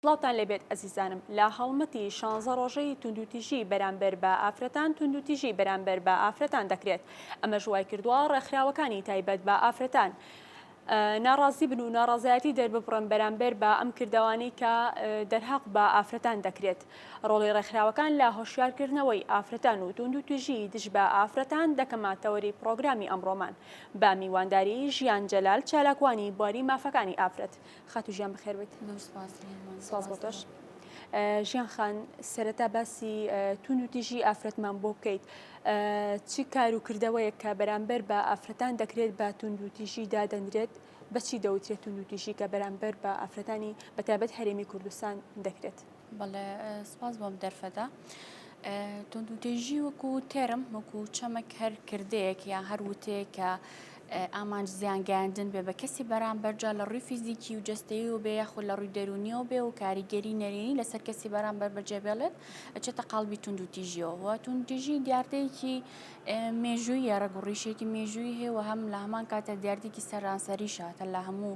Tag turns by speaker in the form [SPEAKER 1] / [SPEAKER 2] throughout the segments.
[SPEAKER 1] سڵاوتان لەبێت ئەزیزانم لە هەڵمەتی شانزە ڕۆژەی توندوتیژی بەرامبەر بە ئافرەتان توندوتیژی بەرامبەر بە ئافرەتان دەکرێت ئەمە ژوای کردووە ڕێکخراوەکانی تایبەت بە ئافرەتان. ناڕازی بن و ناڕازایەتی دەرببڕن بەرامبەر بە ئەم کردەوانەی کە دەرهەق بە ئافرەتان دەکرێت. ڕۆڵی ڕێکخراوەکان لە هۆشیارکردنەوەی ئافرەتان و توندوتیژی دژ بە ئافرەتان دەکە ماتەوەری پڕۆگرامی ئەمڕۆمان بە میوانداری ژیان جەلال چالاکوانی بواری مافەکانی ئافرەت. خاتوو ژیان بەخێربێیت. سپاس بۆ تۆش. ژیان خان سەرەتا باسی توندوتیژی ئافرەتمان بۆ بکەیت. چ کار و کردەوەیەک کە بەرامبەر بە ئافرەتان دەکرێت بە توندوتیژی دادەنرێت بەچی دەوترێت توندوتیژی کە بەرامبەر بە ئافرەتانی بەتابەت هەرێمی کوردستان دەکرێت بەڵێ
[SPEAKER 2] سپاس بۆم دەرفەتە. توندوتێژی وەکو تێرم وەکو چەمەک هەر کردەیەک یا هەر وتەیە کە ئامانج زیان گەیاندن بێ بە کەسی بەرامبەر جا لە ڕووی فیزیکی و جەستەییەوە بێ یاخود لە ڕووی دەروونییەوە بێ و کاریگەری نەرێنی لەسەر کەسی بەرامبەر بەجێبێڵێت ئەچێتە قاڵبی توندوتیژییەوە و توندوتیژی دیاردەیەکی مێژوویە ڕەگ و ڕیشێکی مێژووی هەیە و هەم لە هەمان کاتە دیاردێکی سەرانسەریشە کە لە هەموو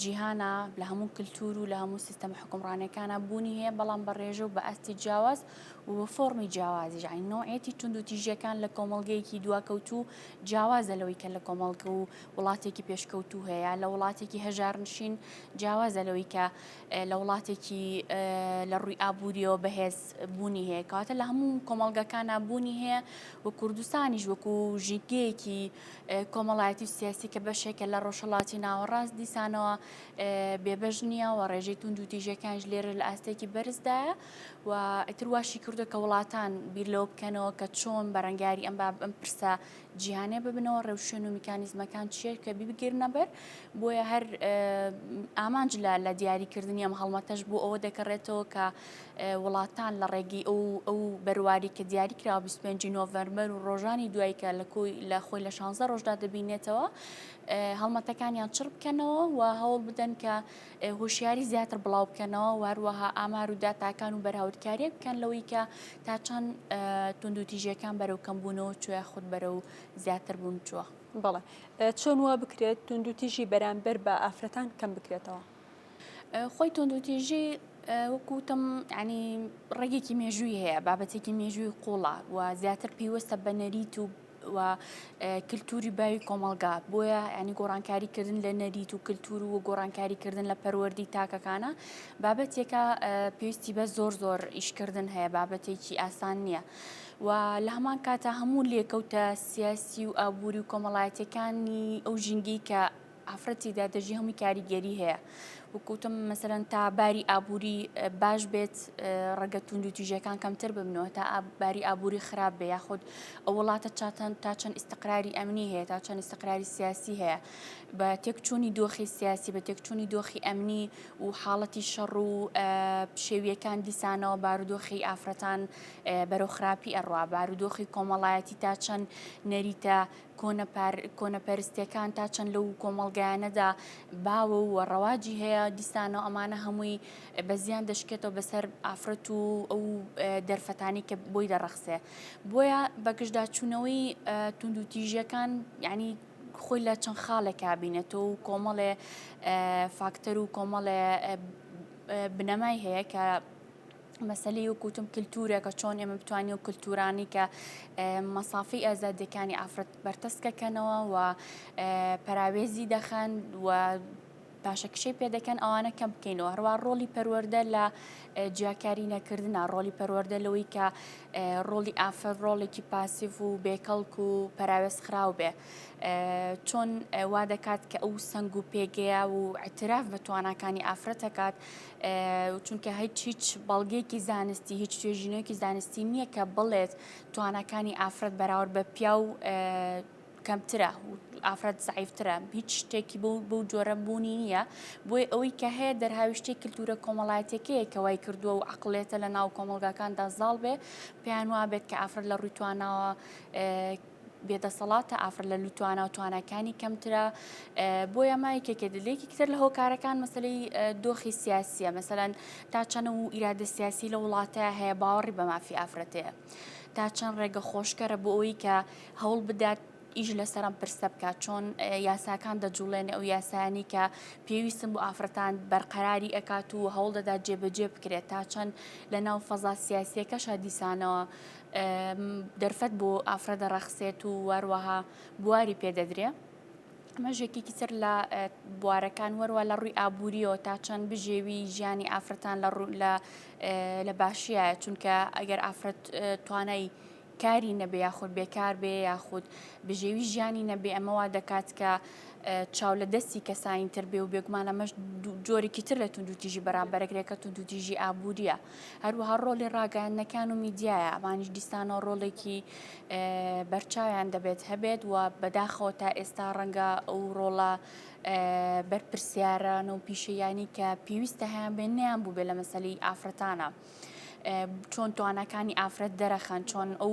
[SPEAKER 2] جیهانا لە هەموو کلتور و لە هەموو سیستەمە حکومڕانەکانە بوونی هەیە بەڵام بە ڕێژە و بە ئاستی جیاواز و بە فۆڕمی جیاوازیش یانی نەوعێتی توندوتیژیەکان لە کۆمەڵگەیەکی دواکەوتوو جیاوازە لەوەی کە لە کۆمەڵگە و وڵاتێکی پێشکەوتوو هەیە لە وڵاتێکی هەژارنشین جیاوازە لەوەی کە لە وڵاتێکی لە ڕووی ئابوووریەوە بەهێز بوونی هەیە کاتە لە هەموو کۆمەڵگەکانە بوونی هەیە و کوردستانیش وەکو ژینگەیەکی کۆمەڵایەتی و سیاسی کە بەشێکە لە ڕۆژهڵاتی ناوەڕاست دیسانەوە بێبەش نییە و ڕێژەی تونند و تیژەکانش لێرە لە ئاستێکی بەرزدایە و و ئیتر واشی کردو کە وڵاتان بیر لەوە بکەنەوە کە چۆن بەرەنگاری ئەم باب ئەم پرسە جیهانێ ببنەوە ڕێوشوێن و میکانیزمەکان چیە کە ببگرنەبەر بۆیە هەر ئامانج لە لە دیاریکردنی ئەم هەڵمەتەش بۆ ئەوە دەکەڕێتەوە کە وڵاتان لە ڕێگەی ئەو ئەو بەرواری کە دیاری کرا 25 نۆڤەرمەر و ڕۆژانی دوای کە لە کۆی لە خۆی لە 16 ڕۆژدا دەبینێتەوە هەڵمەتەکانیان چڕ بکەنەوە و هەوڵ بدەن کە هۆشیاری زیاتر بڵاو بکەنەوە و هەروەها ئامار و داتاکان و بەراوردکاریە بکەن لەوەی کە تا چەند توندوتیژەکان بەرەو کەم بوونەوە چوە خود بەرە و زیاتر بوون چوە بڵێ
[SPEAKER 1] چۆن وا بکرێت توندوتیژی بەرامبەر بە ئافرەتان کەم بکرێتەوە خۆی
[SPEAKER 2] توندوتیژی وەکوتم ینی ڕێگێکی مێژووی هەیە بابەتێکی مێژووی قوڵە و زیاتر پێیوەستە بە نەریت و و کللتوری باوی کۆمەلگا بۆیە ینی گۆڕانکاری کردن لە نەریت و کللتور و گۆڕانکاری کردن لە پەروەردی تاکەکانە بابەتێکە پێویستی بە زۆر زۆر ئیشکردن هەیە بابەتێکی ئاسان نییە و لە هەمان کاتە هەموو لێکەوتە سیاسی و ئابووری و کۆمەڵایەتەکانی ئەو ژینگەی کە ئافرەتی دا دەژی هەمووی کاریگەری هەیە وکوتم مەسەرەن تا باری ئابووری باش بێت ڕەگە توند و تیژەکان کەمتر ببنەوە تا باری ئابووری خراپ بێ یاخود ئەو وڵاتە چاتەن تا چەند ئیسقراری ئەمنی هەیە تا چەند ئیسقراری سیاسی هەیە بە تێکچوونی دۆخی سیاسی بە تێکچوونی دۆخی ئەمنی و حاڵەتی شەڕ و پشێویەکان دیسانەوە بارودۆخی ئافرەتان بەرەو خراپی ئەڕوا بارودۆخی کۆمەڵایەتی تا چەند نەریتە کۆنەپەرستیەکان تا چەند لەو کۆمەڵگایانەدا باوە و ڕەواجی هەیە دیسانەوە ئەمانە هەمووی بەزیان دەشکێتەوە بەسەر ئافرەت و ئەو دەرفەتانی کە بۆی دەڕەخسێ بۆیە بەگشتداچوونەوەی تونند و تیژەکان ینی خۆی لە چەند خاڵێکا بینێتەوە و کۆمەڵێ فاکتەر و کۆمەڵێ بنەمای هەیە کە مەسەلی وکوتم کللتورێکە چۆن ئێمە بتوانانی و کللتورانی کە مەسافی ئازادەکانی ئافرەت بەرتەسکەکەنەوە و پەراوێزی دەخەن و باشە کشەی پێدەکەن ئەوانە کەم بکەینەوە هەروە ڕۆلی پەروەەردە لە جیاکاری نەکردنا ڕۆلی پەروەەردە لەوەی کە ڕۆلی ئافر ڕۆڵێکی پاسیف و بێکەڵک و پەراوێز خراو بێ چۆن وا دەکات کە ئەو سنگ و پێگەیە و ئەتراف بە تواناکانی ئافرەتەکات چونکە هیچ هیچ بەڵگەیەکی زانستی هیچ توێژینەوەیەکی زانستی نییە کە بڵێت توانەکانی ئافرەت بەراورد بە پیا و کەمترە ئافرەت زعیفترە هیچ شتێکی بۆ بەو جۆرە بوونی نییە بۆی ئەوەی کە هەیە دەرهاویشتی کللتورە کۆمەڵایەتەکەیە کە وای کردووە و عقلێتە لە ناو کۆمەلگاکاندا زاڵ بێ پێیان وابێت کە ئافرەت لە ڕووی تواناوە بێ دەسەڵاتە ئافر لە لوتوانە و تواناکانی کەمترە بۆ ئەمە یەکێکێ دلێکی کتر لە هۆکارەکان مەسلەی دۆخی سیاسیە مەسەەن تا چەند و ئیرادە سیاسی لە وڵاتە هەیە باوەڕی بە مافی ئافرەتەیە تا چەند ڕێگە خۆشکەرە بۆ ئەوی کە هەوڵ بدات ئیش لەسەرم پرسە بکات چۆن یاساکان دەجوڵێن ئەو یاسانی کە پێویستم بۆ ئافرەتان بەرقەراری ئەکات و هەوڵ دەدا جێبەجێ بکرێت تا چەند لە ناو فەزا سیاسیەکەشە دیسانەوە دەرفەت بۆ ئافرەت دەڕەخسێت و وەروەها بواری پێدەدرێ ئەمەش یەکێکی تر لە بوارەکان وەروە لە ڕووی ئابوووریەوە تا چەند بژێوی ژیانی ئافرەتان لە ڕوو لە لە باشیە چونکە ئەگەر ئافرەت توانای کاری نەبێ یاخود بێکار بێ یاخود بژێوی ژیانی نەبێ ئەمەوا دەکات کە چاو لە دەستی کەسانی تر بێ و بێگومانە مەش جۆرێکی تر لە توندوتیژی بەرامبەرەگرێکە توندوتیژی ئابوووریە هەروەها ڕۆلی ڕاگەیاندنەکان و میدیایە ئەمانیش دیسانەوە ڕۆڵێکی بەرچاویان دەبێت هەبێت و بەداخەوە تا ئێستا ڕەنگە ئەو ڕۆڵە بەرپرسیاران و پیشەیانی کە پێویستە هەیان بێن نیان بوو بێ لە مەسەلی ئافرەتانە چۆن توانەکانی ئافرەت دەرەخەن چۆن ئەو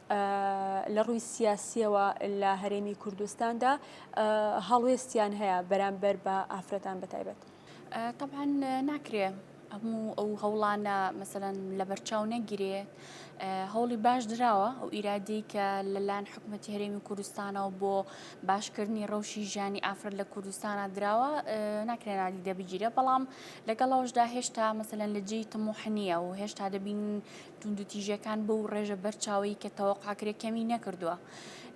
[SPEAKER 1] لە ڕووی سیاسییەوە لە هەرێمی کوردستاندا هەڵوێستیان هەیە بەرامبەر بە ئافرەتان بەتایبەت تەبان
[SPEAKER 2] ناکرێ هەموو ئەو هەوڵانە مەسەەن لە بەرچاو نەگیرێ هەوڵی باش دراوە ئەو ئیرادی کە لەلاەن حکوومەت هەرێمی کوردستانەوە بۆ باشکردنی ڕەوشی ژیانی ئافرەت لە کوردستانە دراوە ناکرێن نادی دەبگیرە بەڵام لەگەڵەوەشدا هێشتا مەسەەن لە جێی تموحنیە و هێشتا دەبین توندوتیژیەکان بەو ڕێژە بەرچاوەی کە تەوەقاکرێ کەمی نەکردووە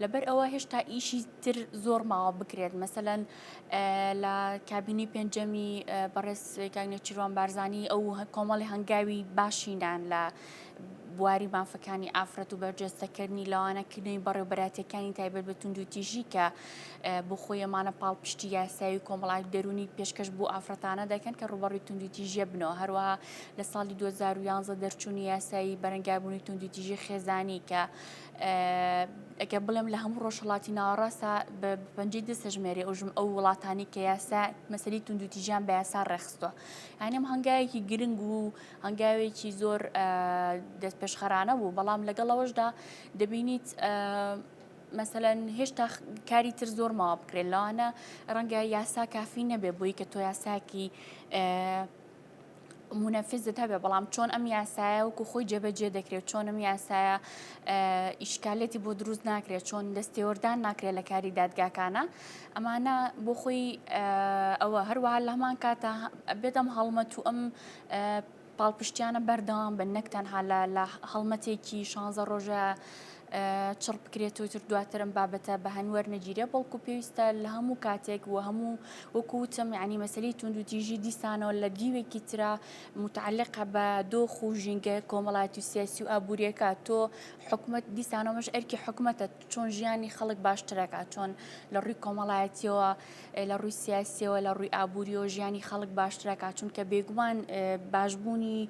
[SPEAKER 2] لەبەر ئەوە هێشتا ئیشی تر زۆر ماوە بکرێت مەسەەن لە کابینی پێنجەمی بەڕێز کاگنێچیروان بارزانانی ئەو کۆمەڵی هەنگاوی باشینان لە بواری مافەکانی ئافرەت و بەرجەستەکردنی لەوانە کردنی بەڕێوبەراتەکانی تایبەت بە توندوتیژی کە بۆ خۆیەمانە پاڵپشتی یاسایی کۆمەڵات دەرونی پێشکەش بۆ ئافرەتانە دەکەن کە ڕوبەڕی توندوتیژە بنەوە هەروەها لە ساڵی 2011 دەرچوونی یاسایی بەرەنگاربوونی توندیتیژی خێزانی کە ئەگە بڵێم لە هەموو ڕۆژهڵاتی ناوەڕاستە بە پەنجی دەسەژمێری ئەوژم ئەو وڵاتانی کە یاسا مەسەری توندوتیژیان بە یاسا ڕێخستوە هەنێم هەنگاوێکی گرنگ و هەنگاوێکی زۆر دەست پێشخەرانە بوو بەڵام لەگەڵەوەشدا دەبینیت مەسەەن هێشتا کاری تر زۆر ماوە بکرێت لەوانە ڕەنگە یاسا کافی نەبێ بۆی کە تۆ یاساکی منەفزت هەبێ بەڵام چۆن ئەم یاسایە وکو خۆی جێبەجێ دەکرێت چۆن ئەم یاسایە ئیشکالەتی بۆ دروست ناکرێت چۆن دەستێوەردان ناکرێت لە کاری دادگاکانە ئەمانە بۆ خۆی ئەوە هەروەها لە هەمان کاتە بێتم هەڵمەت و ئەم پاڵپشتیانە بەردەوام بن نەک تەنها لە هەڵمەتێکی شانزە ڕۆژە چڕ بکرێت و تر دواترم بابەتە بە هەن وەرنەگیرێ بەڵکو پێویستە لە هەموو کاتێک و هەموو وەکو وتم یعنی مەسلی تونند و تیژی دیسانەوە لە دیوێکی ترا متعلقە بە دۆخ و ژینگە کۆمەڵاتی و سیاسی و ئابوووریەکە تۆ حکومت دیسانەوەش ئەرکی حکومەتە چۆن ژیانی خەڵک باشترەکە چۆن لە ڕووی کۆمەڵایەتیەوە لە ڕووی سیاسیەوە لە ڕووی ئابووری و ژیانی خەڵک باشترەکە چونکە بێگومان باشبوونی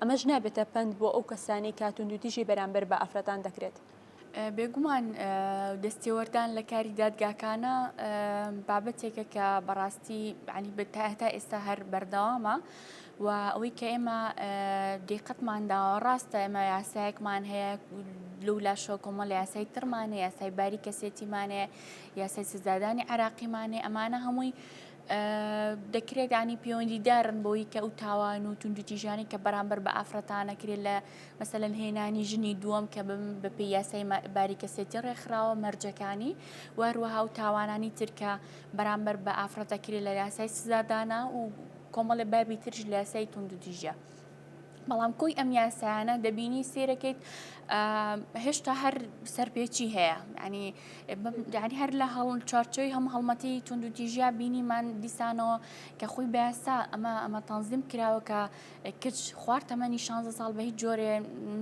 [SPEAKER 1] ئەمەش نابێتە پەند بۆ ئەو کەسانەی کە توندوتیژی بەرامبەر بە ئافرەتان دەکرێت. بێگومان
[SPEAKER 2] دەستێوەردان لە کاری دادگاکانە بابەتێکە کە بەڕاستی عنی بتا هەتا ئێستا هەر بەردەوامە و ئەوەی کە ئێمە دیقەتمان داوە ڕاستە ئێمە یاسایەکمان هەیە لەو لاشەوە کۆمەڵ یاسای ترمانە یاسای باری کەسێتیمانەیە یاسای سزادانی عراقیمانێ ئەمانە هەمووی دەکرێت ینی پەیوەندیدارن بۆی کە ئەو تاوان و توندوتیژانی کە بەرامبەر بە ئافرەتانەکرێت لە مەسەلەن هێنانی ژنی دووەم کە بم بە پێ یاسای باریکەسێتی ڕێکخراوە مەرجەکانی وهروەها و تاوانانی ترکە بەرامبەر بە ئافرەتەکرێت لە یاسای سزادانا و کۆمەڵی بابی ترش لە یاسای توندوتیژە بەڵام کۆی ئەم یاسایانە دەبینی سێرەکەیت هێشتا هەر سەرپێچی هەیە ینی داری هەر لە هەڵ چارچۆی هەم هەڵمەتی تونند و تیژیا بینیمان دیسانەوە کە خۆی بەسا ئەمە ئەمە تەنزیم کراوە کە کچ خوارد تەمەنی 16 ساڵ بە هیچ جۆرێ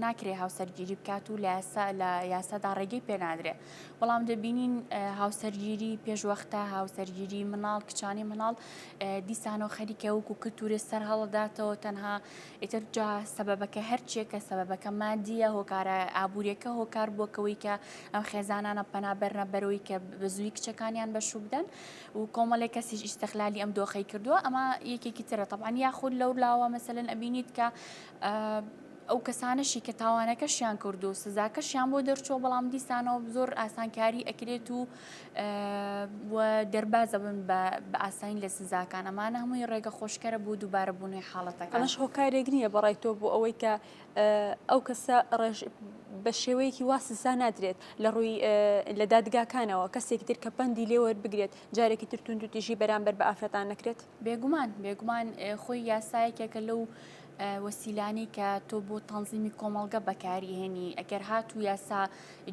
[SPEAKER 2] ناکرێ هاوسەرگیری بکات و لە یاسا لە یاسادا ڕێگەی پێنادرێ بەڵام دەبینین هاوسەرگیری پێشوەختە هاوسەرگیری مناڵ کچانی مناڵ دیسانەوە خەریکە وەکو کلتورێ سەر هەڵداتەوە تەنها ئیتر جا سەبەبەکە هەرچێکە سەبەبەکە مادیە هۆکارە ئابوووریەکە هۆکار بووەکەوەی کە ئەم خێزانانە پەنابەرنە بەرەوەی کە بە زووی کچەکانیان بەشوو بدەن و کۆمەڵێک کەسیش ئیسەخلالی ئەم دۆخی کردووە ئەمە یەکێکی ترە تەبان یاخود لەو لاوە مەسەن ئەبینیت کە ئەو کەسانەشی کە تاوانەکەشیان کرد و سزاکەشیان بۆ دەرچووە بەڵام دیسانەوە زۆر ئاسانکاری ئەکرێت و و دەربازەبن بە بەئاسانی لە سزاکان، ئەمانە هەمووی ڕێگە خۆشکەرە بۆ دووبارەبوونەوەی حاڵەتەکان. ئەمەش هۆکارێک نییە
[SPEAKER 1] بەڕای تۆ بۆ ئەوەی کە ئەو کەسە بە شێوەیەکی وا سزا نادرێت لە ڕووی لە دادگاکانەوە کەسێکی تر کە پەندی لێوەربگرێت جارێکی تر توندوتیژی بەرامبەر بە ئافرەتان نەکرێت؟ بێگومان بێگومان
[SPEAKER 2] خۆی یاسایەکێکە لەو وەسیلانی کە تۆ بۆ تەنزیمی کۆمەڵگە بەکاری هێنی ئەگەر هات و یاسا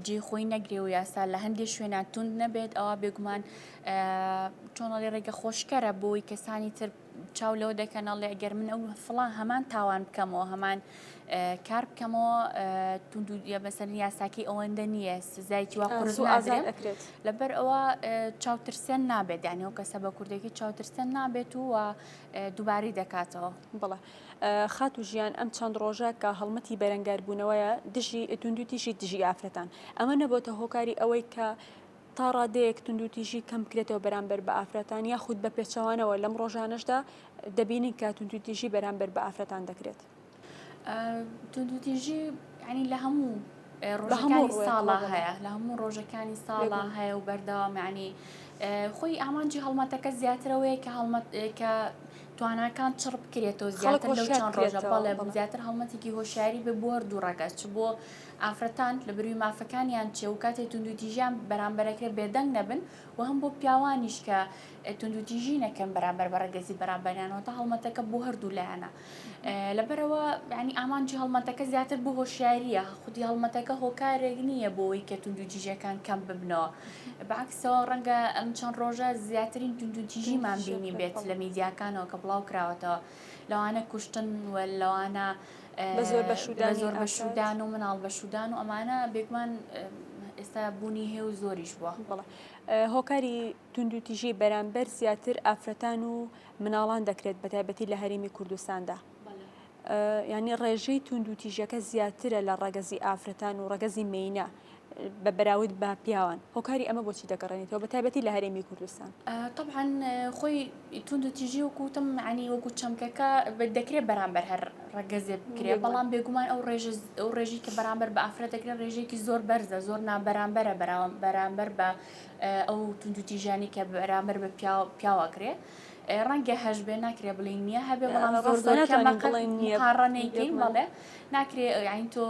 [SPEAKER 2] جێ خۆی نەگرێ و یاسا لە هەندێک شوێنە تونند نەبێت ئەوە بێگومان چۆنەڵی ڕێگە خۆشکەرە بۆی کەسانی تر چاو لەوە دەکەنەڵێ ئەگەر من ئەو فڵان هەمان تاوان بکەمەوە هەمان کار بکەمەوە تونند بەسەر یاساکی ئەوەندە نییە سزایکی وا قرس و ئازان ئەکرێت لەبەر ئەوە چاوترسێن نابێت دانی و کەسە بە کوردێکی چاوترسێن نابێت و دووباری دەکاتەوە بڵە
[SPEAKER 1] خات و ژیان ئەم چەند ڕۆژە کە هەڵمەتی بەرەنگاربوونەوەیە دژی تونند و تیژی دژی ئافرەتان ئەمە نەبووتە هۆکاری ئەوەی کە تا ڕادەیەک توندوتیژی کەم بکرێتەوە بەرامبەر بە ئافرەتان یاخود بە پێچەوانەوە لەم ڕۆژانەشدا دەبینین کە توندوتیژی بەرامبەر بە ئافرەتان دەکرێت توندوتیژی
[SPEAKER 2] ینی لە هەموو ڕۆژەکانی ساڵا هەیە لە هەموو ڕۆژەکانی ساڵا هەیە و بەردەوامانی خۆی ئامانجی هەڵمەتەکە زیاترەوەیە کە هەڵمەت کە تواناکان چڕ بکرێتەوە زیاتر لەو چەند ڕۆژە بەڵێ زیاتر هەڵمەتێکی هۆشیاری بە بۆر دوو ڕەگەچ بۆ ئافرەتان لە بروی مافەکانیان چیە وکاتێ توندوتیژیان بەرامبەرەکرێ بێدەنگ نەبن وهەم بۆ پیاوانیش کە توندوتیژی نەکەن بەرامبەر بە رەگەزی بەرامبەریان واتە هەڵمەتەکە بۆ هەردوو لایەنە لەبەرئەوە یانی ئامانجی هەڵمەتەکە زیاتر بۆ هۆشیاریە خودی هەڵمەتەکە هۆکارێک نیە بۆوەی کە توندوتیژیەکان کەم ببنەوە بەعەکسەوە رەنگە ئەم چەند رۆژە زیاترین توندوتیژیمان بینیبێت لە میدیاکانەوە کە بڵاوکراوەتەوە لەوانە کوشتن و لەوانە بە زۆر بەشودان و مناڵ بەشودان و ئەمانە بێگومان ئێستا بوونی هێ و زۆریش بووە بڵێ
[SPEAKER 1] هۆکاری توندوتیژی بەرامبەر زیاتر ئافرەتان و مناڵان دەکرێت بە تایبەتی لە هەرێمی کوردستاندا ینی ڕێژەی توندوتیژەکە زیاترە لە ڕەگەزی ئافرەتان و ڕەگەزی مینە بە بەراود بە پیاوان هۆکاری ئەمە بۆچی دەگەڕێنێتەوە بە تایبەتی لە هەرێمی کوردستان طبعاان
[SPEAKER 2] خۆی تونند و تیژی وکوتم عنی وەکو چەمکەکە دەکرێت بەرامبەر هەر ڕگەزێ بکرێت بەڵام بێگومان ئەو ڕێژ ئەو ڕێژی کە بەرامبەر بە ئافرەت دەکرێت ڕێژێکی زۆر بەرزە زۆر نابەرامبەرە بەراوە بەرامبەر بە ئەو تونند و تیژانی کە بەرامبەر بە پیاواکرێت. ڕەنگە هەش بێ ناکرێ بڵین نییە هەبێ بەڵام زۆر زۆر کەمەکەڵێن نییە هاڕەنێکین بڵێ ناکرێ یعنی تۆ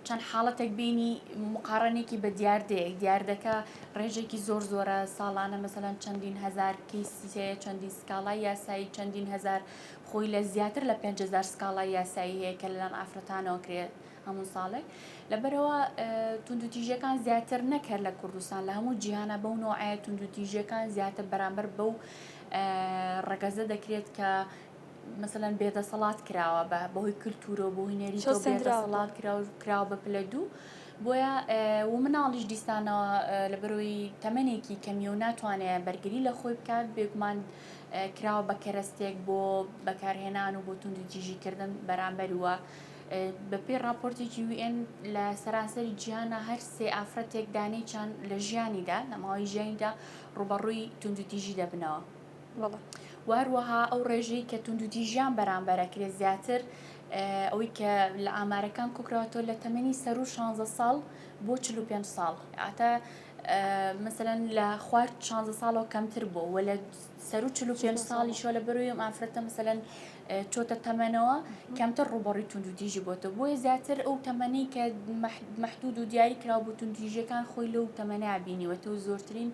[SPEAKER 2] چەند حاڵەتێک بینی مقارنێکی بە دیاردەیەک دیاردەکە ڕێژێکی زۆر زۆرە ساڵانە مەسەلاەن چەندین هزار کیسیەیە چەندین سکاڵای یاسایی چەندین هزار خۆی لە زیاتر لە 5هزار سکاڵای یاسایی هەیە کە لەلام ئافرەتانەوە کرێت هەموو ساڵێک لەبەرەوە توندوتیژەکان زیاتر نەکرد لە کوردستان لە هەموو جیهانە بەو نوعە توندوتیژەکان زیاتر بەرامبەر بەو ڕگەزە دەکرێت کە مەسەلەن بێ دەسەڵات کراوە بە بەهۆی کلتورۆ بۆ هوینێری تۆ بێ دەسەڵات کراو کراوە بە پلە دوو بۆیە و مناڵیش دیستانەوە لە بەرۆی تەمەێکی کەمیە و ناتوانێت بەرگری لە خۆی بکات بێگومان کراوە بە کەرەستێک بۆ بەکارهێنان و بۆ توندی جیژیکردن بەرامبەر وە بەپی راپۆرتێکی وێن لە سەرانسەری جیانە هەر سێ ئافرەتێک دانێکیان لە ژیانیدا لە ماوەی ژیانیدا ڕوبەڕووی توندوتیژی دەبنەوە. و هەروەها ئەو ڕێژەی کە توندوتیژیان بەرامبەر ئەکرێت زیاتر ئەوەی کە لە ئامارەکان کۆکراوەتەوە لە تەمەنی سەر و 16 ساڵ بۆ 45 ساڵ ئاتە مثلەن لە خوارد 16 ساڵەوە کەمتر بۆ وە لە سەر و 45 ساڵی شۆ لە بەروی ئەم ئافرەتە مثلەن چۆتە تەمەنەوە کەمتر ڕوبەڕی توندوتیژی بۆتە بۆیە زیاتر ئەو تەمەنی کە محدود و دیاری کراو بۆ توندتیژەکان خۆی لەو تەمەنە بینیوەتە و زۆرترین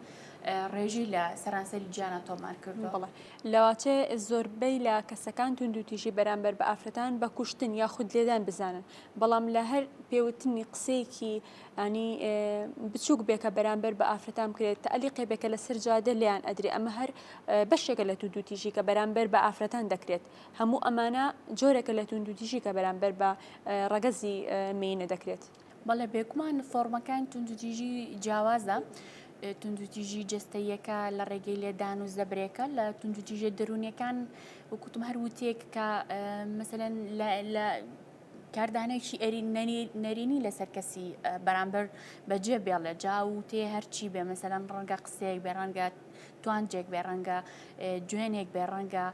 [SPEAKER 2] ڕێژەی لە سەرانسەری جیانا تۆمار کردووە. بەڵێ لەواتێ
[SPEAKER 1] زۆربەی لە کەسەکان توندوتیژی بەرامبەر بە ئافرەتان بە کوشتن یا خود لێدان بزانن بەڵام لە هەر پێوتنی قسەیەکی ئانی بچووک بێکە بەرامبەر بە ئافرەتان بکرێت تەلی قێبێکە لەسەر جادە لیان ئەدرێ ئەمە هەر بەشێکە لە توندوتیژی کە بەرامبەر بە ئافرەتان دەکرێت هەموو ئەمانە جۆرەکە لە توندوتیژی کە بەرامبەر بە ڕەگەزی مینە دەکرێت. بەڵێ بێگومان
[SPEAKER 2] فۆرمەکان توندوتیژی جیاوازە توندوتیژی جستەیەکە لە ڕێگەی لێدان و زەبرێکە لە توندوتیژە دەروونیەکان وکوتم هەر وتێک کە مەسەن لە کاردانێکی ئەری نەرینی لەسەر کەسی بەرامبەر بەجێ بێڵێ جا و تێ هەرچی بێ مەسەرەن ڕەنگە قسەیەک بێ ڕەنگە توانجێک بێ ڕەنگە جوێنێک بێ ڕەنگە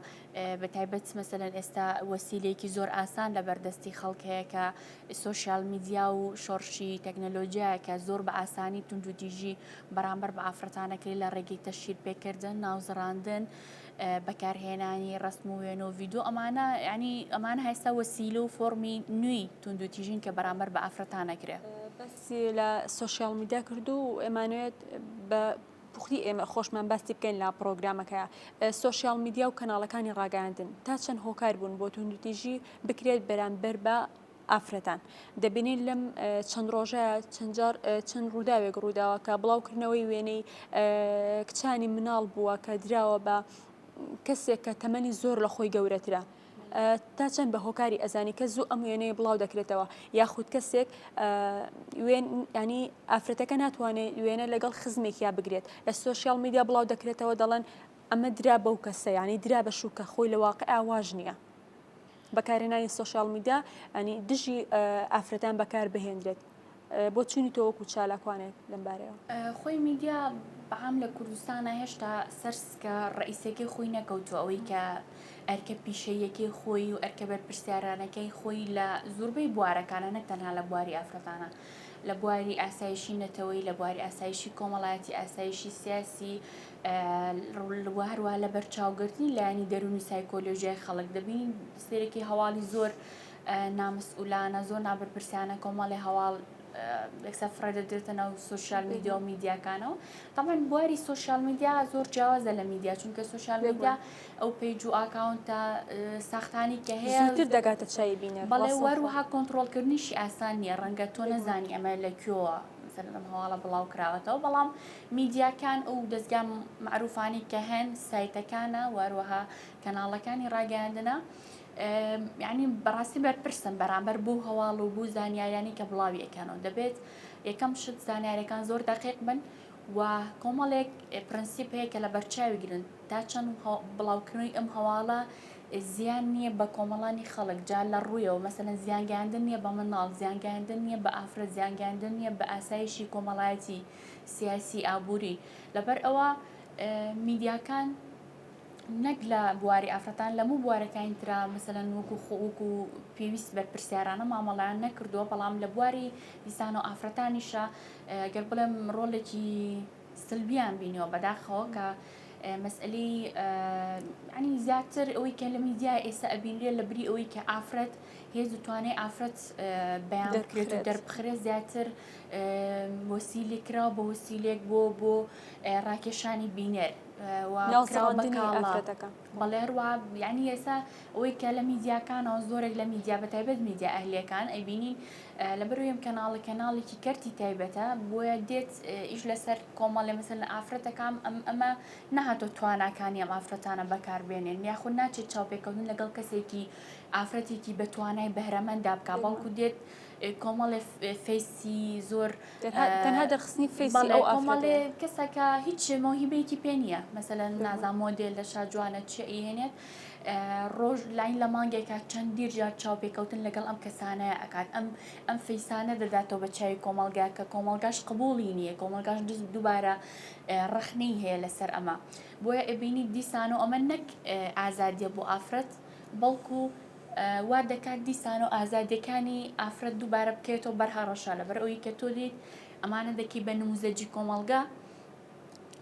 [SPEAKER 2] بە تایبەت مەسەن ئێستا وەسیلێکی زۆر ئاسان لە بەردەستی خەڵک هەیە کە سۆشیال میدیا و شۆڕشی تەکنەلۆجیایەکە زۆر بە ئاسانی توندوتیژی بەرامبەر بە ئافرەتانەکەی لە ڕێگەی تەشیر پێکردن ناوزڕاندن بەکارهێنانی ڕسم و وێن و ڤیددیو ئەمانە ینی ئەمان هەستا وەسیلە و فۆمی نوێی توندوتیژین کە بەرامبەر بە ئافرەتانەکرێت. بەسی لە سوۆسیال
[SPEAKER 1] میدیا کردو و ئەمانوێت بە پوختی ئێمە خۆشمان باسی بکەین لە پڕۆگرامەکە سوسیال میدیا و کەناڵەکانی ڕاگەاندن تا چەند هۆکار بوون بۆ توندوتیژی بکرێت بەرامبەر بە ئافرەتان دەبینین لەم چەند ڕۆژە چەندجار چەند ڕووداوێک ڕووداوە کە بڵاوکردنەوەی وێنەی کچانی مناڵ بووە کە دراوە بە کەسێک کە تەمەنی زۆر لە خۆی گەورەترە تا چەند بە هۆکاری ئەزانی کە زوو ئەم وێنەیە بڵاو دەکرێتەوە یاخود کەسێک ینی ئافرەتەکە ناتوانێت وێنە لەگەڵ خزمێک یا بگرێت لە سوۆسیال میدیا بڵاو دەکرێتەوە دەڵێن ئەمە درا بەو کەسە ینی درا بە شوکە خۆی لە واقع ئاواژ نییە. بەکارێنانی سوۆسیال میدیا ئەنی دژی ئافرەتان بەکار بهێنرێت بۆ چونی تۆ وەکو چالاکوانێک لەم بارەیەوە؟ خۆی میدیا
[SPEAKER 2] بەعام لە کوردستانا هێشتا سەر سکە ڕەئیسیەکەی خۆی نەکەوتووە ئەوەی کە ئەرکە پیشەییەکەی خۆی و ئەرکە بەرپرسیارانەکەی خۆی لە زوربەی بوارەکانا نەک تەنها لە بواری ئافرەتانا لە بواری ئاسایشی نەتەوەی لە بواری ئاسایشی کۆمەڵایەتی ئاسایشی سیاسی و هەروە لە بەرچاوگرتنی لایەنی دەروونی سایکۆلۆژیای خەڵک دەبین سێرەکی هەواڵی زۆر نامسئولانە زۆر نابەرپرسیانە کۆمەڵی هەواڵ یەکسەر فڕێ دەدرێتە ناو سوسیال میدیا و میدیاکانەوە تامان بواری سوسیال میدیا زۆر جیاوازە لە میدیا چونکە سوسیال میدیا ئەو پیج و ئاکاونتە ساختانی کە هەیە تر دەگاتە چای
[SPEAKER 1] بینە بەڵێ وەروها
[SPEAKER 2] کۆنتترۆلکردنیشی ئاسان نییە ڕەنگە تۆ نەزانی ئەمە لە کوێوە سەردەم هەواڵە بڵاو کراوەتەوە بەڵام میدیاکان ئەو دەستگا معروفانی کە هەن سایتەکانە واروەها کەناڵەکانی ڕاگەاندنە یانی بەڕاستی بەرپرسن بەرامبەر بوو هەواڵ و بوو زانیاریانی کە بڵاویەکەنەوە دەبێت یەکەم شت زانیارەکان زۆر دەقیق بن و کۆمەڵێک پرەنسیپ هەیە کە لە بەرچاوی گرن تا چەند بڵاوکردنەوەی ئەم هەواڵە زیان نییە بە کۆمەڵانی خەڵک جا لە ڕوویەوە مەسەن زیانگەاندن نییە بە مناڵ زیانگەاندن نییە بە ئافرە زیانگەاندن نییە بە ئاسایشی کۆمەڵایەتی سیاسی ئابووری لەبەر ئەوە میدیاکان نەک لە بواری ئافرەتان لە موو بوارەکانی ترا مەسەلەن وەکو خۆک و پێویست بەرپرسیارانە مامەڵیان نەکردووە بەڵام لە بواری دیسان و ئافرەتانیشە گەر بڵێم ڕۆلێکی سلبیان بینیەوە بەداخەوە کە مەسئلەی ینی زیاتر ئەوەی کە لە میدیا ئێستا ئەبینرێت لە بری ئەوەی کە ئافرەت هێز و توانێ ئافرەت بەیان دەکرێت و دەربخرێت زیاتر وەسیلی کراوە بە وەسیلێک بۆ بۆ ڕاکێشانی بینەر ناو سڕاندنی ئافرەتەکە بەڵێ ڕوا یعنی ئێسا ئەوەی کە لە میدیاکانەوە زۆرێک لە میدیا بە تایبەت میدیا ئەهلەکان ئەیبینین لە بەرویم کەناڵە کەناڵێکی کەرتی تایبەتە بۆیە دێت ئیش لەسەر کۆمەڵێ مەسەر لە ئافرەتەکان ئەم ئەمە نەهاتۆ تواناکانی ئەم ئافرەتانە بەکاربێنێن یاخود ناچێت چاوپێکەوتن لەگەڵ کەسێکی ئافرەتێکی بەتوانای بەهرەمەندا بک بەڵکو دێت کۆمەڵێ فەیسی زۆر تەنها دەرخستنی
[SPEAKER 1] فەیسی ئەو ئافرەتە کەسەکە
[SPEAKER 2] هیچ مۆهیبەیەکی پێ نییە مەسەلە نازان مۆدێل لە شاجوانە چی ئەیهێنێت ڕۆژ لاین لە مانگێکە چەند دیرجار چاوپێکەوتن لەگەڵ ئەم کەسانەیە ئەکات ئەم ئەم فەیسانە دەداتەوە بە چاوی کۆمەلگا کە کۆمەلگاش قبولی نییە کۆمەلگاش دز دووبارە ڕخنەی هەیە لەسەر ئەمە بۆیە ئەبینی دیسان و ئەمە نەک ئازادیە بۆ ئافرەت بەڵکو وا دەکات دیسان و ئازادیەکانی ئافرەت دووبارە بکەوێتەوە بەر هەڕەشە لەبەر ئەوی کە تۆ لیت ئەمانە دەکی بە نموزەجی کۆمەڵگە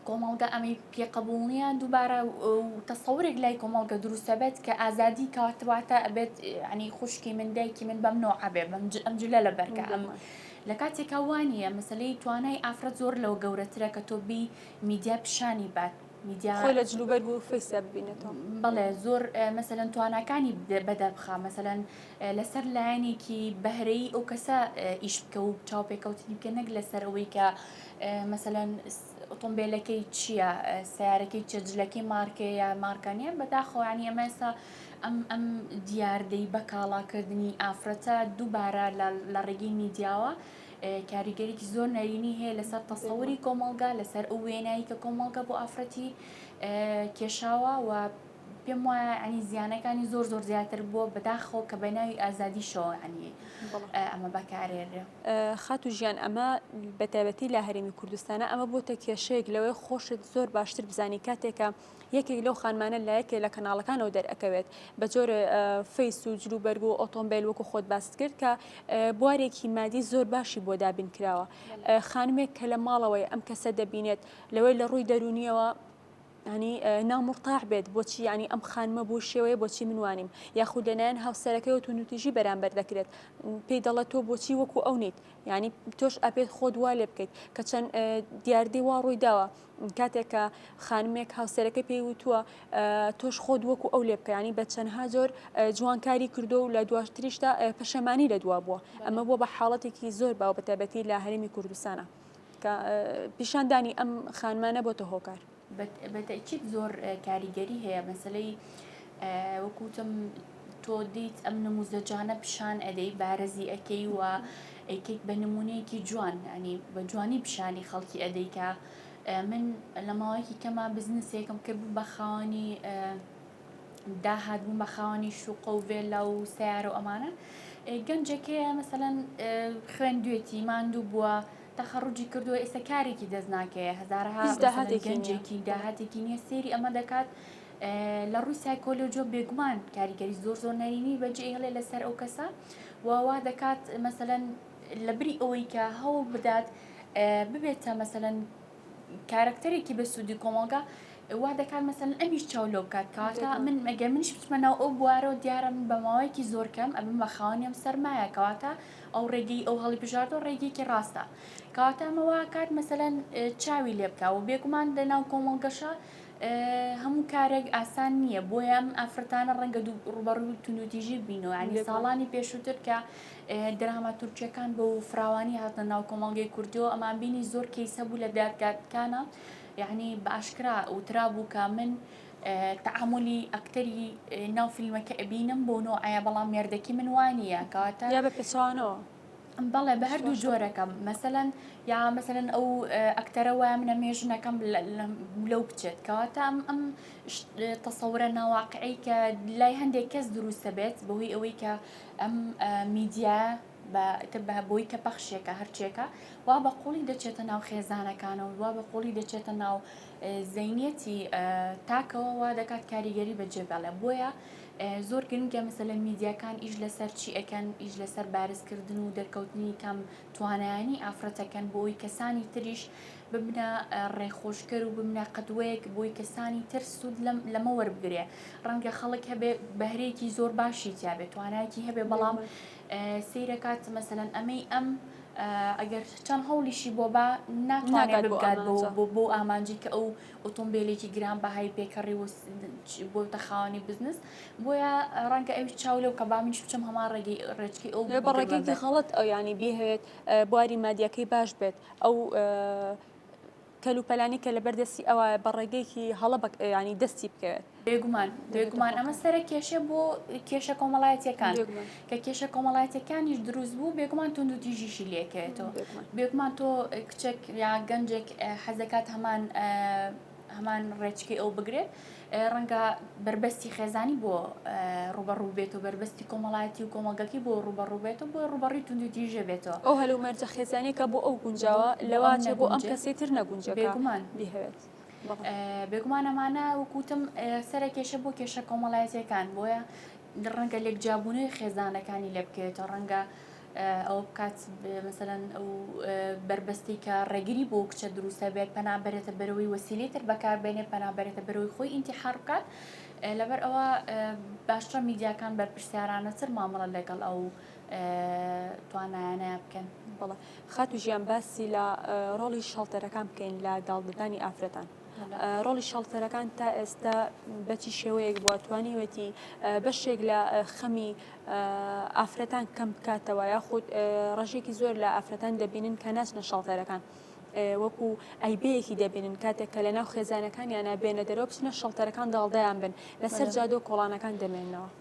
[SPEAKER 2] کۆمەڵگە ئەمەی پێقبول نییە دووبارە تەسەورێک لای کۆمەڵگە دروستە بێت کە ئازادی کاتواتە ئەبێت ینی خوشکی من دایکی من بەم نۆعابێ بەم ئەم جلە لە بەرکە ئەم لە کاتێکا وانە مەسلەی توانای ئافرەت زۆر لەوە گەورەترە کە تۆ بی میدیا پیشانی بات میدیا خۆی لە جلوبەرگ
[SPEAKER 1] و فەیسیا ببینێتەوە بەڵێ زۆر
[SPEAKER 2] مەسەن تواناکانی بەدە بخە مەسەن لەسەر لایەنێکی بەهرەی ئەو کەسە ئیش بکە و چاو پێکەوتنی بکە نەک لەسەر ئەوەی کە مەسەن ئۆتۆمبیلەکەی چییە سیارەکەی چەجلەکەی مارکەیە مارکانە بەداخۆیانی ئەمە ئێستا ئەم ئەم دیاردەی بەکاڵاکردنی ئافرەتە دووبارە لە ڕێگەی میدیاوە کاریگەریی زۆر نەرێنی هەیە لەسەر تەسەوری کۆمەڵگا لەسەر ئەو وێنایی کە کۆمەڵگە بۆ ئافرەتی کێشاوە و پێم وایە ئەنی زیانەکانی زۆر زۆر زیاتر بووە بەداخۆ کە بە ناوی ئازادی شەوانی ئەمە بەکارێنرێ خاتو ژیان
[SPEAKER 1] ئەمە بەتابەتی لە هەرێمی کوردستانە ئەمە بۆتە کێشەیەک لەوەی خۆشت زۆر باشتر بزانانی کاتێکە یەکێک لەو خانمانە لە یەکێ لە کەناڵەکانەوە دەرئەکەوێت بە جۆرێ فەیس و جلو بەرگ و ئۆتۆمبیل وەکو خۆت باست کرد کە بوارێکی مادی زۆر باشی بۆ دابین کراوە خانمێک کە لە ماڵەوەی ئەم کەسە دەبینێت لەوەی لە ڕووی دەرونیەوە ینی نامڕتاح بێت بۆچی ینی ئەم خانمە بۆ شێوەیە بۆچی منوانیم یاخود لەلایەن هاوسەرەکەی و تونوتیژی بەرامبەر دەکرێت پێی دەڵێت تۆ بۆچی وەکو ئەو نیت ینی تۆش ئەپێت خۆت وا لێ بکەیت کە چەند دیاردەی وا ڕووی داوە کاتێک کە خانمێک هاوسەرەکەی پێی وتووە تۆش خۆت وەکو ئەو لێ بکەیانی بە چەندها زۆر جوانکاری کردو و لە دواتریشدا پەشەمانی لە دوا بووە ئەمە بۆ بە حاڵەتێکی زۆر باو بە تایبەتی لە هەرمی کوردستانە کە پیشاندانی ئەم خانمانە بۆتە هۆکار بەتەکیت
[SPEAKER 2] زۆر کاریگەری هەیە مەسلەی وەکو وتم تۆ دیت ئەم نموزەجانە پیشان ئەدەی بارزی ئەکەی و ئەیکەیت بە نمونەیەکی جوان ینی بە جوانی پیشانی خەڵکی ئەدەی کە من لە ماوەیەکی کەما بزنسێکم کرد بوو بە خاوەنی داهات بووم بە خاوەنی شوقە و ڤێلا و سیارە و ئەمانە گەنجەکەیە مەسەەن خوێندوێتی ماندوو بووە تەخەڕجی کردووە ئێستا کارێکی دەست ناکەیە هزارها گەنجێکی داهاتێکی نییە سێری ئەمە دەکات لە ڕووی سایکۆلۆجیەوە بێگومان کاریگەری زۆر زۆر نەرێنی بەجێ هێڵێ لەسەر ئەو کەسە و وا دەکات مەسەلەن لە بری ئەوەی کە هەوڵ بدات ببێتە مەسەلەن کارەکتەرێکی بە سوودی کۆمەڵگا وا دەکات مەسەن ئەمیش چاو لەو کات کاتە من ئەگەر منش بچمە ناو ئەو بوارەوە دیارە من بە ماوەیەکی زۆر کەم ئەبم بە خاوەنیم سەرمایە کەواتە ئەو ڕێگەی ئەو هەڵی بژاردۆ ڕێگەیەکی ڕاستە کەواتە ئەمەوە کات مەسەلەن چاوی لێ بکە و بێگومان لە ناو کۆمەڵگەشە هەموو کارێک ئاسان نییە بۆیە ئەم ئافرەتانە ڕەنگە دوو ڕوبەڕووی توندوتیژی بینەوە ینی ساڵانی پێشووتر کە دراما تورکیەکان بۆ و فراوانی هاتنە ناو کۆمەڵگەی کوردەوە ئەمان بینی زۆر کەیس هەبوو لە دادگاتکانە یعنی باشکرا وترا بوو کە من تعاملی ئەکتەری ناو فیلمەکە ئەبینم بۆ نۆعەیە بەڵام مێردەکی من وانە کەواتە یا بە پێچوانەوە
[SPEAKER 1] بەڵێ بە
[SPEAKER 2] هەردوو جۆرەکەم مەسەەن یا مەسەن ئەو ئەکتەرە وای منە مێ ژنەکەم لەو بچێت کەواتە ئەم ئەم تەسەورە ناواقعی کە لای هەندێک کەس دروستە بێت بەهۆی ئەوەی کە ئەم میدیا بەتر بە بۆی کە پەخشێکە هەرچێکە وا بە قوڵی دەچێتە ناو خێزانەکانەوە وا بە قوڵی دەچێتە ناو زینەتی تاکەوە وا دەکات کاریگەری بەجێ بەڵێ بۆیە زۆر گرنگە مەسەلەن میدیاکان ئیش لەسەر چی ئەکەن ئیش لەسەر بارزکردن و دەرکەوتنی کەم توانایانی ئافرەتەکەن بۆی کەسانی تریش ببنە ڕێخۆشکەر و ببنە قدوەیەک بۆی کەسانی تر سود لەمە وەربگرێ ڕەنگە خەڵک هەبێ بەهرەیەکی زۆر باشی تیاێ توانایکی هەبێ بەڵام سیرەکات مەسەن ئەمەی ئەم ئەگەر چەند هەوڵیشی بۆ با ناتوانێت بگات بۆ ئامانجی کە ئەو ئۆتۆمبێلێکی گرانبەهای پێکەڕی و بۆتە خاوەنی بزنس بۆیە ڕەنگە ئەوی چاو لەو کە بامنیش بچم هەمان ڕێگەی ڕێچکی ئەو بە ڕێگەیەکی خەڵەت ئەو
[SPEAKER 1] ینی بهەوێت بواری مادیەکەی باش بێت ئەو کەلوپەلانی کە لە بەردەستی ئەوە بە ڕێگەیەکی هەڵە ینی دەستی بکەوێت بێگومان بێگومان
[SPEAKER 2] ئەمە سەرە کێشە بۆ کێشە کۆمەڵایەتەکان کە کێشە کۆمەڵایەتەکانیش دروست بوو بێگومان تونند و تیژیشی لەکەێتەوە بێگومان تۆ کچێک یا گەنجێک حەزەکات هەمان هەمان ڕێچکی ئەو بگرێت ڕەنگە بربەستی خێزانی بۆ ڕوبەڕوو بێت و بربەستی کۆمەڵایەتی و کۆمەڵگەکی بۆ ڕوبەڕوو بێت و بۆ ڕوبەڕی تونند و تیژە بێتەوە ئەو هەلومەرجە
[SPEAKER 1] خێزانەکە بۆ ئەو گونجاوە لەوانێ بۆ ئەم کەسی تر نەگونجێت بێگومان بهێت.
[SPEAKER 2] بێگومان ئەمانە وەک وتم سەرە کێشە بۆ کێشە کۆمەڵایەتەکان بۆیە ڕەنگە لێک جابوونەوەی خێزانەکانی لێ بکەوێتەوە ڕەنگە ئەو بکات مەسەەن ئەو بەربەستی کە ڕێگری بۆ کچە دروستە بێت پەنابێتە بەرەوەی وەسیلی تر بەکاربێنێ پەنابێتە بەرەوەی خۆی ئینتیحار بکات لەبەر ئەوە باشترە میدیاکان بەرپرسیارانەتر مامەڵە لەگەڵ ئەو توانایانە بکەن بەڵێ خاتو
[SPEAKER 1] ژیان باسی لە ڕۆڵی شەڵتەرەکان بکەین لە داڵدەدانی ئافرەتان. ڕۆڵی شەڵتەرەکان تا ئێستا بەچی شێوەیەک بووە توانیوەتی بەشێک لە خەمی ئافرەتان کەم بکاتەوە یاخود ڕژێکی زۆر لە ئافرەتان دەبینن کە ناچنە شەڵتەرەکان. وەکو ئەیبەیەکی دەبینن کاتێک کە لە ناو خێزانەکانیانە بێنە دەرەوە بچنە شەڵتەرەکان داڵدەیان بن لەسەر جادۆ کۆڵانەکان دەمێنەوە.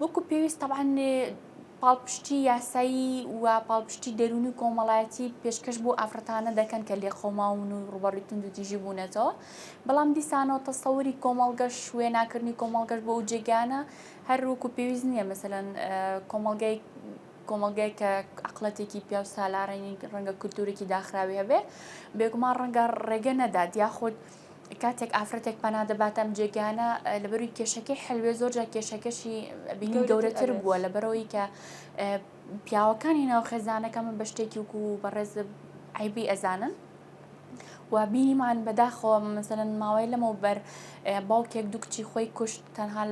[SPEAKER 2] وەکو پێویست تەبعەن پاڵپشتی یاسایی و پاڵپشتی دەروونی و کۆمەڵایەتی پێشکەش بۆ ئافرەتانە دەکەن کە لێقەوماون و ڕوبەڕوی تونند و تیژی بوونەتەوە بەڵام دیسانەوە تەسەوری کۆمەڵگەش وێناکردنی کۆمەڵگەش بۆ ئەو جێگانە هەر وەکو پێویست نییە مەسەلەن کۆمەڵگای کۆمەلگای کە عقلەتێکی پیاو سالارێنی ڕەنگە کولتورێکی داخراوی هەبێ بێگومان ڕەنگە ڕێگە نەدات یاخود کاتێک ئافرەتێک پەنا دەباتە ئەم جێگانە لەبەروی کێشەکەی حلوێ زۆرجار کێشەکەشی بینی گەورەتر بووە لە بەرەوەی کە پیاوەکانی ناو خێزانەکە من بە شتێکی وکو و بەڕێز عیبی ئەزانن و بینیمان بەداخەوە مەسەن ماوەی لەمەو بەر باوکێک دوو کچی خۆی کوشت تەنها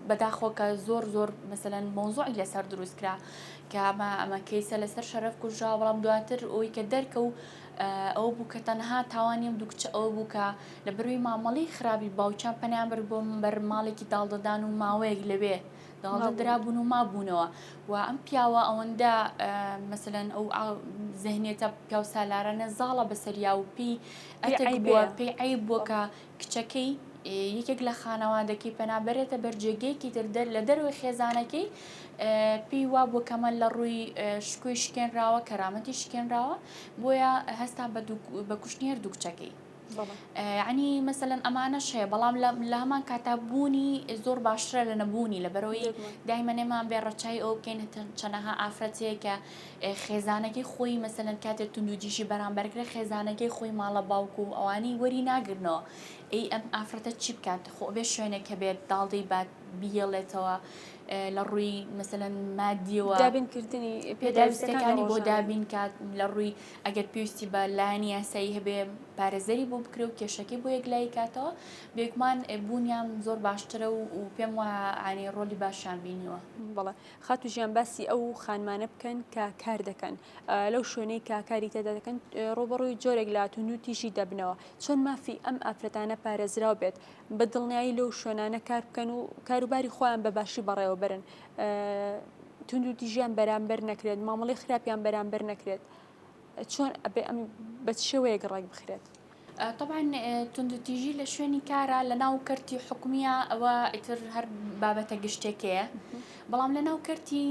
[SPEAKER 2] بەداخۆ کە زۆر زۆر مەسەن مۆزۆعی لەسەر دروستکرا کە ئەمە ئەمە کەیسە لەسەر شەرف کوژرا بەڵام دواتر ئەوی کە دەرکە و ئەوە بوو کە تەنها تاوانی ئەم دوو کچە ئەوە بوو کە لە بەروی مامەڵی خراپی باوکیان پەنیان برد بۆ بەر ماڵێکی داڵدەدان و ماوەیەک لەوێ داڵدە درابوون و مابوونەوە و ئەم پیاوە ئەوەندە مەسەن ئەو زەهنێتە پیاو سالارانە زاڵە بەسەریا و پێی ئەی بووە پێی ئەی بووە کە کچەکەی، یەکێک لە خانەوادەکەی پەنا بەرێتە بەر جێگەیەکی تر لە دەرەوەی خێزانەکەی، پێی وابووە کە مە لە ڕووی شکۆی شکێنراوە، کەرامەتی شکێنراوە، بۆیە هەستا بە کوشتنی هەردوو کچەکەی. ینی مەسەەن ئەمانەش هەیە بەڵام لە هەمان کاتا بوونی زۆر باشترە لە نەبوونی لە بەرەوەی دایمەنێمان بێ ڕەچای ئەو بکەین چەنەها ئافرەتەیە کە خێزانەکەی خۆی مەسەلەن کاتێ توندوتیژی بەرامبەرکرێ خێزانەکەی خۆی ماڵە باوک و ئەوانی وەری ناگرنەوە ئەی ئەم ئافرەتە چی بکات خۆ بێ شوێنێک کە بێت داڵدەی بات بیهێڵێتەوە لە ڕووی مەسەن مادیەوە دابینکردنی
[SPEAKER 1] پێداویستەکانی
[SPEAKER 2] بۆ دابین کات لە ڕووی ئەگەر پێویستی بە لایەن یاسایی هەبێ پارێزەری بۆ بکرێ و کێشەکەی بۆ یەک لای کاتەوە بێکمان بوونیان زۆر باشترە و پێم وە ئانی ڕۆلی باشیان بینیوە بڵێ خاتو
[SPEAKER 1] ژیان باسی ئەو خانمانە بکەن کە کار دەکەن لەو شوێنەی کە کاری تێدا دەکەن ڕۆبڕووی جۆرێک لە تونو تیژی دەبنەوە چۆن مافی ئەم ئافرەتانە پارێزراو بێت بە دڵنیایی لەو شوێنانە کار بکەن و کاروباری خۆیان بە باشی بەڕێوە برن تونو تیژیان بەرامبەر نەکرێت مامەڵی خراپیان بەرامبەر نەکرێت چۆن ئەبێ ئەم بە شێوەیەک ڕێک بخرێت تەبعەن
[SPEAKER 2] توندوتیژی لە شوێنی کارە لە ناو کەرتی حکومیە ئەوە ئیتر هەر بابەتە گشتێکەیە بەڵام لە ناو کەرتی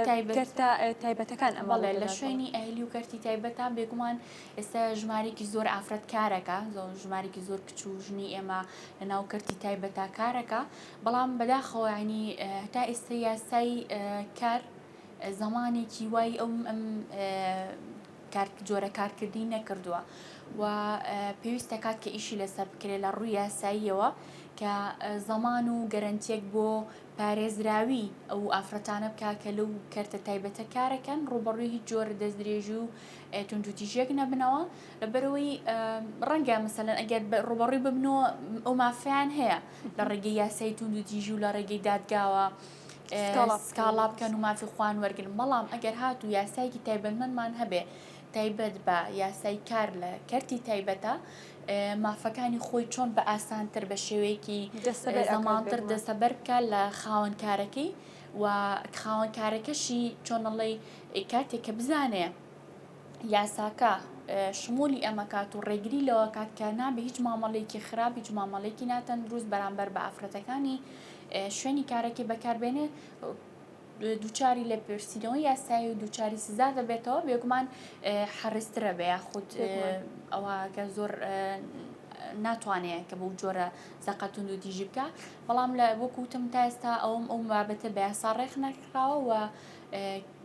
[SPEAKER 2] تایبەتە
[SPEAKER 1] تایبەتەکان ئەمەڵێ لە شوێنی
[SPEAKER 2] ئەهلی و کەرتی تایبەتان بێگومان ئێستا ژمارێکی زۆر ئافرەت کارەکە زۆر ژمارێکی زۆر کچ و ژنی ئێمە لە ناو کەرتی تایبەتە کارەکە بەڵام بەداخەوەنی هەتا ئێستا یاسای کار زمانێکی وای ئەم ئەم جۆرە کارکردی نەکردووە و پێویست دەکات کە ئیشی لەسەر بکرێت لە ڕووی یاساییەوە کە زەمان و گەرەنتیەک بۆ پارێزراوی ئەو ئافرەتانە بکە کە لەو کەرتە تایبەتە کارەکەن ڕوبەڕوی هیچ جۆرە دەستدرێژی و تونجوتیژێک نەبنەوە لەبەرەوەی ڕەنگە مەسەن ئەگەر ڕوبەڕوی ببنەوە ئەو مافیان هەیە لە ڕێگەی یاسای تونجوتیژی و لە ڕێگەی دادگاوە سکاڵا بکەن و مافی خۆیان وەرگرن، بەڵام ئەگەر هاتوو یاسایەکی تایبەتمەندمان هەبێ تایبەت بە یاسای کار لە کەرتی تایبەتە مافەکانی خۆی چۆن بە ئاسانتر بە شێوەیەکی دەسەمانتر دەسەبەر بکە لە خاوەن کارەکەی و خاوەن کارەکەشی چۆنەڵی کاتێک کە بزانێ یاساکە شمولی ئەمەکات و ڕێگری لەوەکات کە نابێ هیچ مامەڵێکی خراپ هیچ مامەڵێکی ناتەندروست بەرامبەر بە ئافرەتەکانی شوێنی کارەکەی بەکاربێنێ دووچاری لە پرسیینەوە یاسایی و دووچاری سزا دەبێتەوە بێگومان حەڕسترە بە یاخود ئەوەگە زۆر ناتوانێت کە بەو جۆرە زەقەتون و دیژی بکە بەڵام لە وەکوتم تا ئێستا ئەوم ئەو بابەتە بە یاسا ڕێخ نەکراوە و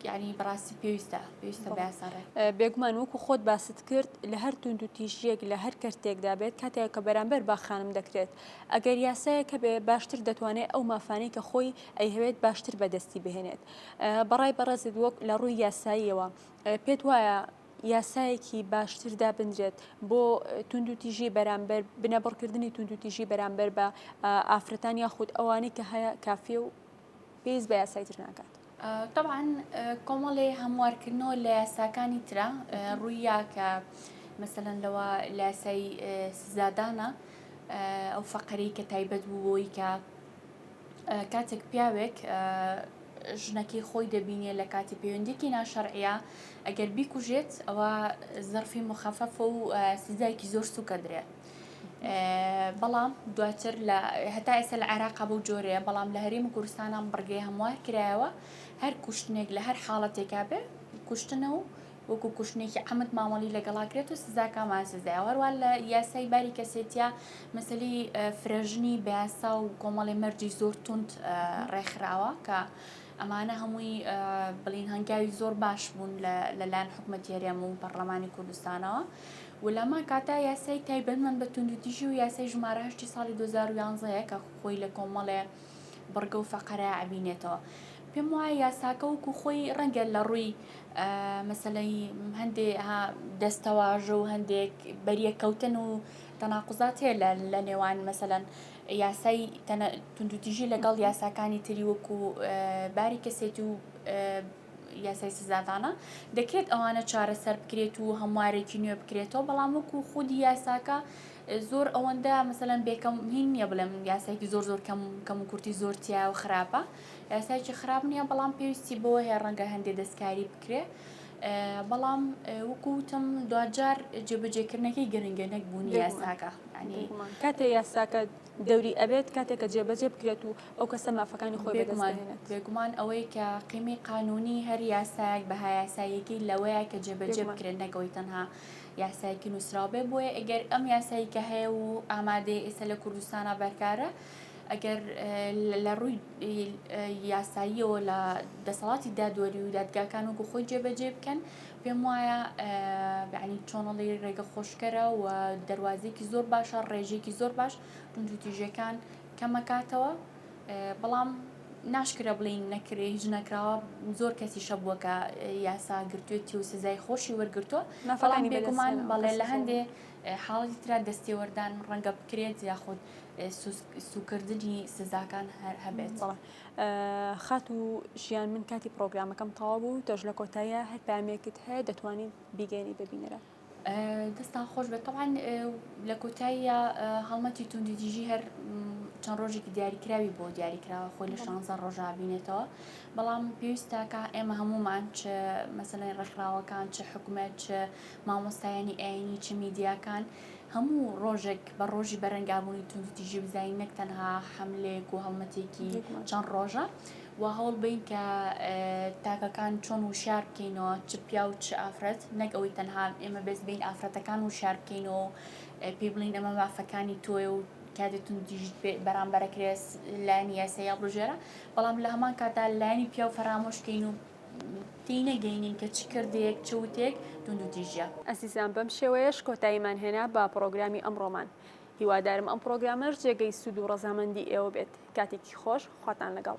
[SPEAKER 2] یانی بەڕاستی پێویستە پێویستە باسەڕێ بێگومان وەکو خۆت
[SPEAKER 1] باست کرد لە هەر توند و تیژیەک لە هەر کەرتێکدا بێت کاتێک کە بەرامبەر باخانم دەکرێت ئەگەر یاسایە کە بێ باشتر دەتوانێت ئەو مافانەی کە خۆی ئەیهوێت باشتر بەدەستی بهێنێت بەڕای بەڕێزت وەک لە ڕووی یاساییەوە پێت وایە یاسایەکی باشتر دابنرێت بۆ توندوتیژی بەرامبەر بنەبڕکردنی توندوتیژی بەرامبەر بە ئافرەتان یاخود ئەوانەی کە هەیە کافی و پێویست بە یاسای تر ناکات. طبعا
[SPEAKER 2] کۆمەڵی هەموارکردنەوە لە یاساکانی ترا ڕوویە کە مەسەەن لەوە لاسای سزادانە ئەو فەقەری کە تایبەت بوو بۆی کە کاتێک پیاوێک ژنەکەی خۆی دەبینێ لە کاتی پەیوەندێکی ناشەرعە ئەگەر بیکوژێت ئەوە زەرفی مخەفەف و سزایکی زۆر سوکە درێت بەڵام دواتر لە هەتا ئێستا لە عێراقا بەو جۆرەیە بەڵام لە هەرێم و کوردستانان بڕگەی هەموار کرایەوە هەر کوشتنێک لە هەر حاڵەتێکا بێ کوشتنە و وەکو کوشتنێکی عمد مامەڵی لەگەڵاکرێت و سزاکامان سزای هەروان لە یاسای باری کەسێتە مەسلی فرەژنی بەیاسا و کۆمەڵی مەرجی زۆر تونند ڕێکخراوە کە ئەمانە هەمووی بڵین هەنگاوی زۆر باش بوون لە لایەن حکومەتی هەرێم و پەرلەمانی کوردستانەوە و لەما کاتا یاسای تایبەتمان بە توندوتیژی و یاسای ژمارە هەشتی ساڵی 2011 کە خۆی لە کۆمەڵێ بڕگە و فەقەرە ئەبینێتەوە پێم وایە یاساکە وکو خۆی ڕەنگە لە ڕووی مەسلەی هەندێ دەستەواژە و هەندێک بەریەککەوتن و تەناقزات هەیە لە نێوان مەسەەن یاسای توندوتیژی لەگەڵ یاساکانی تری وەکو باری کەسێتی و یاسای سزادانە دەکرێت ئەوانە چارەسەر بکرێت و هەموارێکی نوێ بکرێتەوە بەڵام وەکو خودی یاساکە زۆر ئەوەندە مەسەلەن بێکەم هین نییە بڵێم یاسایکی زۆر زۆر کەم کەم و کورتی زۆر تیا و خراپە یاسایکی خراپ نییە بەڵام پێویستی بەوە هەیە ڕەنگە هەندێ دەستکاری بکرێ بەڵام وەکو وتم دوجار جێبەجێکردنەکەی گرنگە نەک بوونی یاساکە ینی کاتێ
[SPEAKER 1] یاساکە دەوری ئەبێت کاتێک کە جێبەجێ بکرێت و ئەو کەسە مافەکانی خۆی بێگومان بێگومان ئەوەی کە
[SPEAKER 2] قیمی قانونی هەر یاسایەک بە هایاسایەکی لەوەیە کە جێبەجێ بکرێت نەکەوەی تەنها یاسایەکی نووسراوبێ بۆیە ئەگەر ئەم یاسایی کە هەیە و ئامادەی ئێستا لە کوردستانە بەرکارە ئەگەر لە ڕووی یاساییەوە لە دەسەڵاتی دادوەری و دادگاکان وەکو خۆی جێبەجێ بکەن پێم وایە بەعنی چۆنەڵی ڕێگە خۆشکەرە و دەواازێکی زۆر باشە ڕێژێکی زۆر باش ڕونجوتیژەکان کەمەکاتەوە بەڵام ناشکرە بڵین نەکرێ هیچ نەکراوە زۆر کەسی شەبووە کە یاسا گرتوێتی و سزای خۆشی وەرگتووە نەفڵانی بێگومان بەڵێ لە هەندێ حاڵەتی ترا دەستێوەردان ڕەنگە بکرێت یاخود سوکردنی سزاکان هەر هەبێت
[SPEAKER 1] خات و ژیان من کاتی پرۆگرامەکەم تەوا بوو تۆش لە کۆتایە هەر پامێکت هەیە دەتوانین بیگەێنی ببینەرە دەستان
[SPEAKER 2] خۆش بێت تەوان لە کۆتاییە هەڵمەتی توندی دژی هەر چەند ڕۆژێکی دیاریکراوی بۆ دیاریکراوە خۆی لە شانزە ڕۆژا بینێتەوە بەڵام پێویستە کە ئێمە هەمومان چ مەسلەی ڕێکخراوەکان چ حکومەت چ مامۆستایانی ئایینی چ میدیاکان هەموو ڕۆژێک بە ڕۆژی بەرەنگابوونی توندوتیژی بزانین نەک تەنها حملەیەک و هەڵمەتێکی چەند ڕۆژە و هەوڵ بین کە تاکەکان چۆن وشار بکەینەوە چ پیا و چ ئافرەت نەک ئەوەی تەنها ئێمە بێز بین ئافرەتەکان وشار بکەینەوە پێی بڵین ئەمە مافەکانی تۆی و کاتێ توندیژت پێ بەرامبەرەکرێس لایەنی یاسایی هەڵبژێرە بەڵام لە هەمان کاتدا لایەنی پیاو فەرامۆشکەین و تێینەی گەینین کە چ کردەیەک چ وتەیەک توندو تیژە. ئەزیزان بەم شێوەیەش
[SPEAKER 1] کۆتاییمان هێنا بە پڕۆگرامی ئەمڕۆمان هیوادارم ئەم پڕۆگرامەش جێگەی سوود و ڕەزامەندی ئێوە بێت کاتێکی خۆش خواتان لەگەڵ.